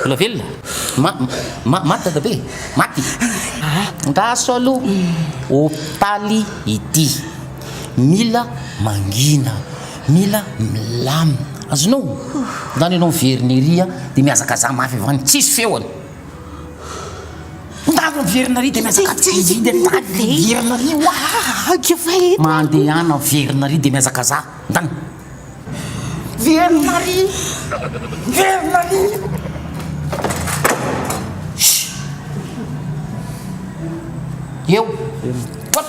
Mbola velona? Ma, ma, maty dadabe? Maty? Ah, andraso aloha. Hopitaly ity. Mila mangina. Mila milamina. Azonao? Ndany ianao miverina ery a, dia mihazakazaha mafy avy any. Tsisy feony. Ndany miverina ary dia mihazakazaha ery. Ndany miverina ary. Oahaha, kivay eto. Mandehana miverina ary dia mihazakazaha. Ndany. Miverina ary! Miverina ary! Eo! Hop!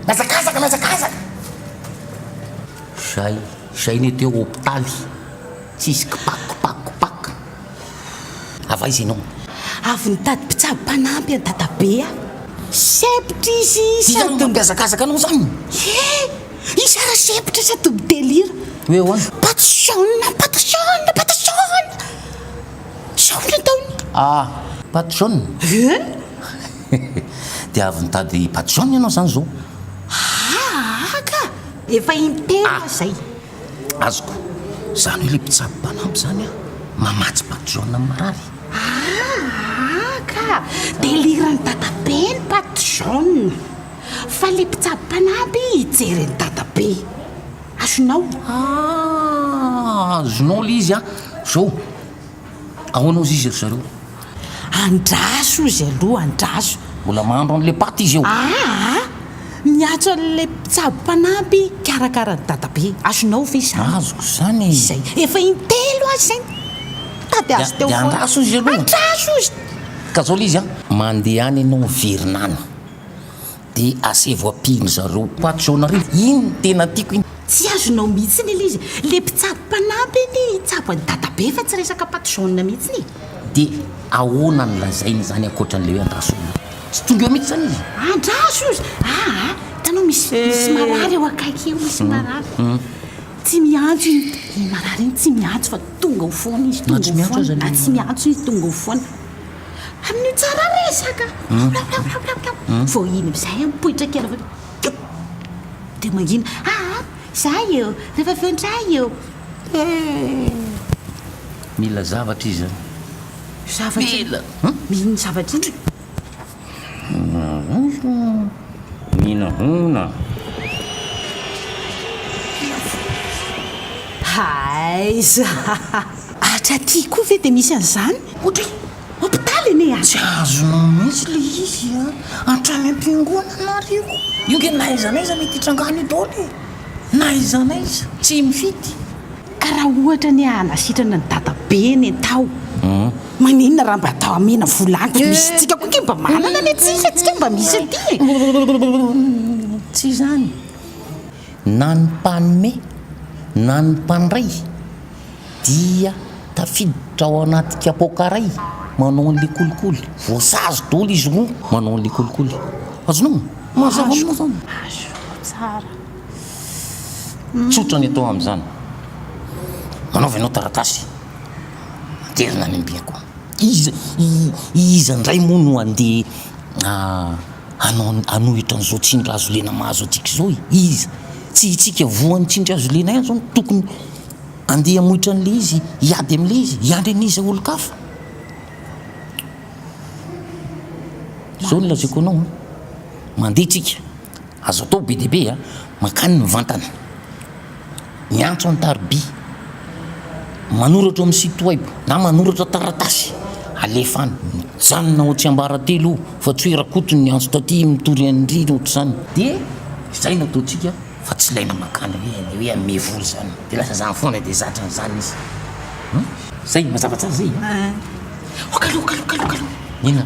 Mihazakazaka, mihazakazaka! Zay, zay ne teo hopitaly, tsisy kipakipaky. Avy aiza ianao? Avy nitady mpitsabo mpanampy an'i Dadabe aho. Sempotra izy sady. Iza no mihazakazaka anao izany? He! Iza raha sempotra sady mi-delira? Hoe ahoana? Patisiona, patisiona, patisiona! Sao ny ataony? Ah, patisiona? Eny! Dia avy nitady patisiona ianao izany izao? Haa ka! Efa in-telo aho izay. azoko. Zany hoe le mpitsabo mpanampy zany a, mamatsy patron am marary. Aa ka! Deliran'i dadabe ny patron fa le mpitsabo mpanampy hijery an'i dadabe. Azonao? Aa azonao le izy a. Zao. Ahoana hozy izy ry zareo? Andraso hozy aloha, andraso. Mbola mahandro an'ilay paty izy eo. Aa! Miantso an'ilay mpitsabo mpanampy hikarakara an'i Dadabe. Azonao ve izany? Azoko izany e! Izay. Efa intelo aza izay nitady azy teo foana. Dia andraso hozy aloha. Andraso hozy! Ka izao ilay izy an! Mandeha any ianao miverina any. De asevo apin zareo koa ato Soanarivo iny no tena tiako iny. Tsy azonao mihitsiny ilay izy. Le mpitsabo mpanampy anie hitsabo an'i dadabe fa tsy resaka pâte jaune mihitsiny e. De ahoana no lazainy izany ankoatran'ilay hoe andraso io? Tsy tonga eo mihitsy izany izy? Andraso io izany? Aa hitanao misy misy marary eo akaiky eo misy marary. Tsy miantso iny iny marary iny tsy miantso fa tonga ao foana izy, tonga ao foana, na tsy miantso izy tonga ao foana. Amin'io tsara resaka. Vao iny amin'izay mipoitra kely avy eo. Dia mangina. Aa izahay eo, rehefa avy eo indray eo. Mila zavatra izy an. Zavatra inona? Mila. Inona zavatra inona? Minohona. Aiza? Atra aty koa ve dia misy an'izany? Ohatra hoe hopitaly anie a! Tsy azonao mihitsy ilay izy a! Hatrany am-piangonana ary io. Io ange na aiza na aiza mety hitranga any io daholo e! Na aiza na aiza, tsy mifidy. Ka raha ohatra anie hanasitrana ny dadabeny e Taho, maninona raha mba atao amena vola any fa misy tsika koa ke mba manana le tsika tsika mba misy aty e. Tsy izany. Na ny mpanome na ny mpandray dia tafiditra ao anaty kapoaka iray manao an'le kolikoly. Voasazy daholo izy roa manao an'le kolikoly. Azonao? Mazava moa zany? Azo, tsara. Tsotra ny atao amin'izany. Manaova ianao taratasy, aterina any am-biako. Iza, iza indray moa no handeha hanao, hanohitra an'izao tsindry hazo lena mahazo antsika izao e? Iza? Tsy isika voan'ny tsindry hazo lena ihany izao no tokony handeha hamoitra an'ilay izy, hiady amin'ilay izy, hiandry an'iza olon-kafa? Izao no lazaiko anao an, mandeha tsika, Azo atao be dia be a! Mankany mivantana, miantso an-tariby, manoratra ao amin'ny site web na manoratra taratasy alefa any. Mijanona ao Tsiambaratelo io fa tsy hoe Rakoto no niantso taty, mitory an-dry na ohatr'izany. Dia izay no ataontsika fa tsy ilaina mankany hoe ilay hoe hanome vola izany. Dia lasa izany foana dia zatra an'izany izy. Zay, mazava tsara zay? Aa! Oka aloha, oka aloha, oka aloha, oka aloha. Inona?